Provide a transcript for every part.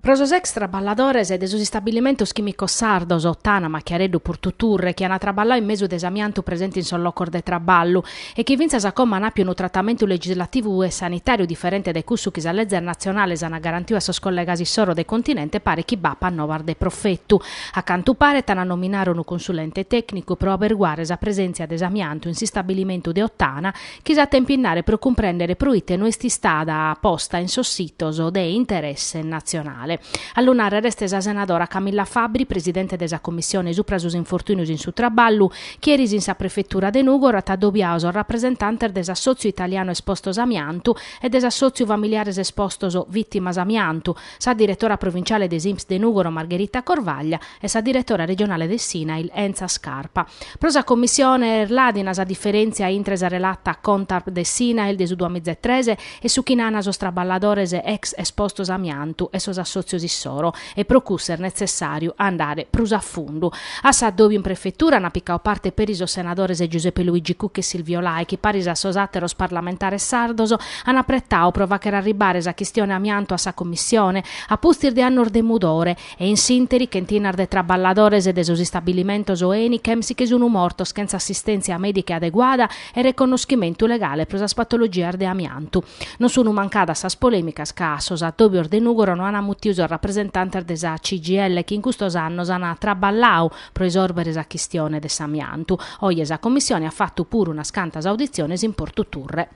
Pro sos ex traballadores de sos istabilimentos chìmicos sardos, Ottana, Machiareddu, Purtuturre, chi an traballadu in mesu de s'amiantu presente in sos locos de traballu e chi fintzas a como an àpiu unu tratamentu legislativu e sanitàriu diferente de cussu chi sas lezes natzionales an garantiu a sos collegas issoro de continente paret chi b'apat novas de profetu. A cantu paret an a nominare unu consulente tècnicu pro aberguare sa presèntzia de s'amiantu in s'istabilimentu de Ottana chi s'at a impinnare pro cumprèndere proite no est istada posta in sos sitos de interesse natzionale. A lu nàrrere est sa senadora Camilla Fabbri, presidente de sa Commissione supra sos infortùnios in su traballu, chi eris in sa prefetura de Nùgoro at adobiadu sos rapresentantes de s'Assòtziu italianu espostos amiantu e de s'Assòtziu familiares espostos vìtimas amiantu, sa diretora provinciale de s'Inps de Nùgoro Margherita Corvaglia e sa diretora regionale de s'INAIL Enza Scarpa. Pro sa Commissione est làdina sa diferèntzia intre sa relata Contarp de s'INAIL de su duamiza e tres e su chi nana sos traballadores ex espostos a amiantu e sos assòtzios issoro e pro cussu est netzessàriu andare prus a fundu. A s'addòbiu in prefetura ant picadu parte peri sos senadores Giuseppe Luigi Cucca e Silvio Lai chi paris a sos àteros parlamentares sardos An apretau pro fàcher arribare sa chistione amiantu a sa Commissione, a pustis de annos de mudore, e in s'interi chentinas de traballadores de sos istabilimentos Enichem si che sun mortos chentza assistèntzia mèdica adeguada e reconnoschimentu legale pro sas patologias de amiantu. Non sun mancadas sas polèmicas ca a sos addòbios de Nùgoro no an mutiu sos rapresentantes de sa CGIL chi in custos annos an traballau pro isòrbere sa chistione de s'amiantu. Oje sa Commissione at fatu puru unas cantas auditziones in Portu Turre.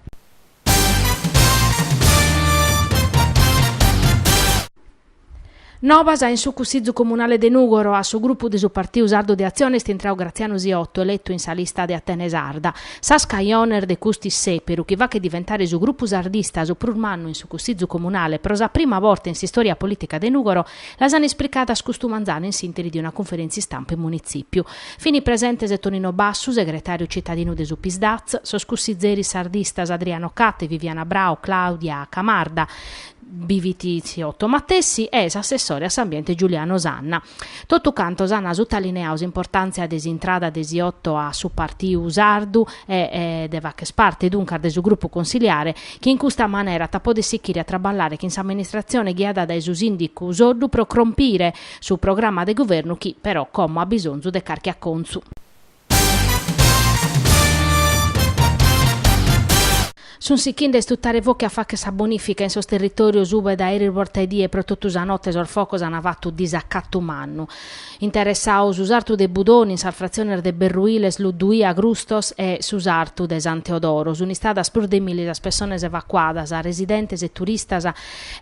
Nobas in su Cussìgiu Comunale de Nùgoro, a su grupu de su Partiu Sardu de Atzione est intrau Gratzianu Siotto, eletu in sa lista de Atene Sarda. Sas cajones de cust'issèperu, chi fachet diventare su grupu sardista su prus mannu in su Cussìgiu Comunale pro sa prima borta in s'istòria polìtica de Nùgoro, Las an ispricadas custu manzanu in s'interi de una cunferèntzia istampa in Munitzipiu. Fini presentes Tonino Bassu, segretariu citadinu de su Psdaz, sos cussizeris sardistas Adriano Catte, Viviana Brau, Claudia Camarda, bi fit Siotto matessi e s'assessore a s'ambiente Giuliano Sanna. Totu cantos an sutalineadu s'importàntzia de s'intrada de Siotto a su Partiu Sardu e de fàcher parte duncas de su grupu consiliare chi in custa manera at a poder sichire a traballare chin s'amministratzione ghiada dae su sìndicu Soddu pro crompire su programma de guvernu chi, però, como at bisonzu de carchi acontzu. Sun sichinde a istutare focu e a fàcher sa bonìfica in sos territòrios ube dae eris borta 'e die pro totu sa note sos focos an fatu disacatu mannu. Interessau su sartu de Budoni in sas fratziones de Berruiles, Ludduì, Agrustos e su sartu de San Teodoro. Sunt istadas prus de milli sas pessones evacuadas, residentes e turistas,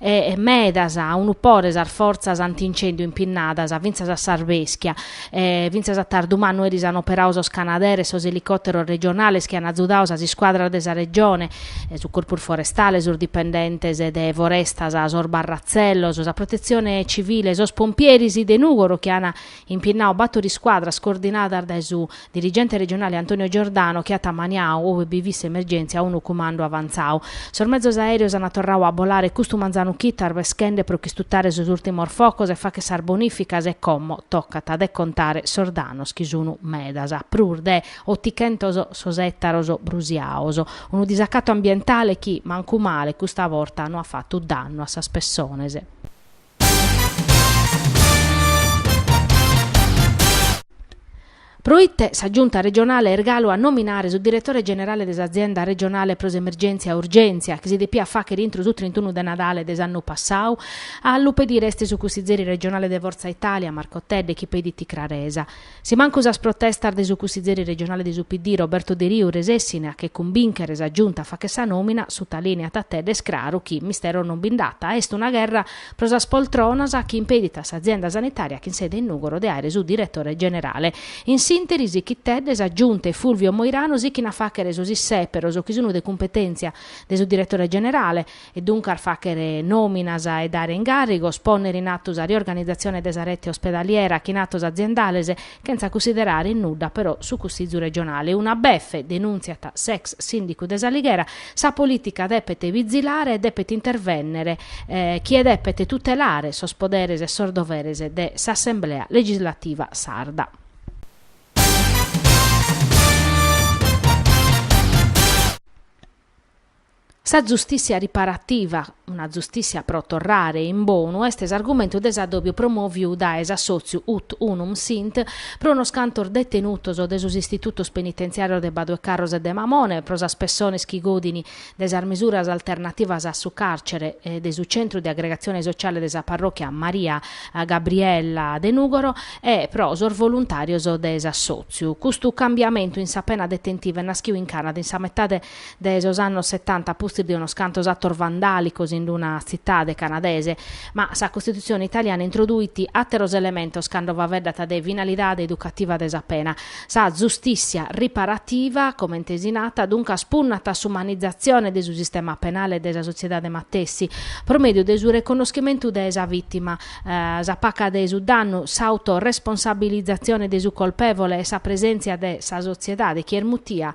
e medas a unu pore sas fortzas anti-incèndiu impinnadas fintzas a s'arbeschia. E fintzas a tardu mannu eris an operau sos canaderes, sos elicòteros regionales chi an azudau sas iscuadras de sa Regione, su Corpus Forestale, sos dipendentes de Forestas, sos barra. Tzellos, sa Protetzione Civile e sos Pompieris de Nùgoro chi an impinnadu bator iscuadras coordinadas dae su dirigente regionale Antonio Giordano chi at maniadu, ue bi fit s'emergèntzia, unu cumandu avantzadu. Sos mezos aèreos an torradu a bolare custu manzanu chito arveschende pro ch'istutare sos ùrtimos focos e fagher sas bonìficas e como tocat de contare sos danos chi sun medas, prus de. Otichentos sos ètaros brusiados. Unu disacatu ambientale chi, mancu male, custa borta no at fatu dannu a sas pessones. Pro ite sa Giunta regionale est galu a nominare su diretore generale de s'Azienda regionale pro s'emergèntzia urgèntzia, chi si depiat fàghere intro su trintunu de Nadale de s'annu passadu? A lu pedire est su cussizeri regionale de Forza Italia, Marco Tedde, chi pedit craresa. Si mancu sas protestas de su cussizeri regionale de su PD, Roberto Deriu, resessine a che cumbìnchere sa Giunta a fagher sa nòmina, sutalìneat Tedde, est craru chi misteru non bi nd'at, est una gherra pro sas poltronas chi impedit a s'azienda sanitària chin sede in Nùgoro de àere su diretore generale. In s'ìnteri, sichit Tedde, sa Giunta e Fulvio Moirano sichint a fàghere sos issèperos chi sunt de cumpetèntzia de su diretore generale, e duncas fàghere nòminas e dare ingàrrigos, pònnere in atu sa riorganizatzione de sa rete ospedaliera chin atos aziendales, chentza cunsiderare in nudda però su Cussizu regionale. Una befe, denùntziat s'ex sìndicu de s'Alighera, sa polìtica depet bizilare e depet intervènnere chie depet tutelare sos poderes e sos doveres de s'Assemblea legislativa sarda. Sa zustìtzia riparativa, una zustìtzia pro torrare in bonu, est s'argumentu de s'adòbiu promòviu dae s'assòtziu Ut Unum Sint pro unos cantos detenutos de sos istitutos penitentziàrios de Badu 'e Carros e de Mamone e pro sas pessones chi godin de sas misuras alternativas a su càrcere de su Centru de Agregatzione Sociale de sa Parròchia Maria Gabriella de Nùgoro e pro sos voluntàrios de s'assòtziu. Custu cambiamentu in sa pena detentiva est naschidu in Canada in sa metade de sos annos setanta a pustis de unos cantos atos vandàlicos in una tzitade canadese. Ma sa Costitutzione italiana introduit àteros elementos cando faeddat de finalidade educativa de sa pena. Sa zustìssia riparativa, comente si nat, duncas punnat a s'umanizatzione de su sistema penale e de sa sotziedade matessi, pro mèdiu de su reconnoschimentu de sa vìtima, sa paca de su dannu, s'autoresponsabilizatzione de su colpèvole e sa presèntzia de sa sotziedade chi est mutia,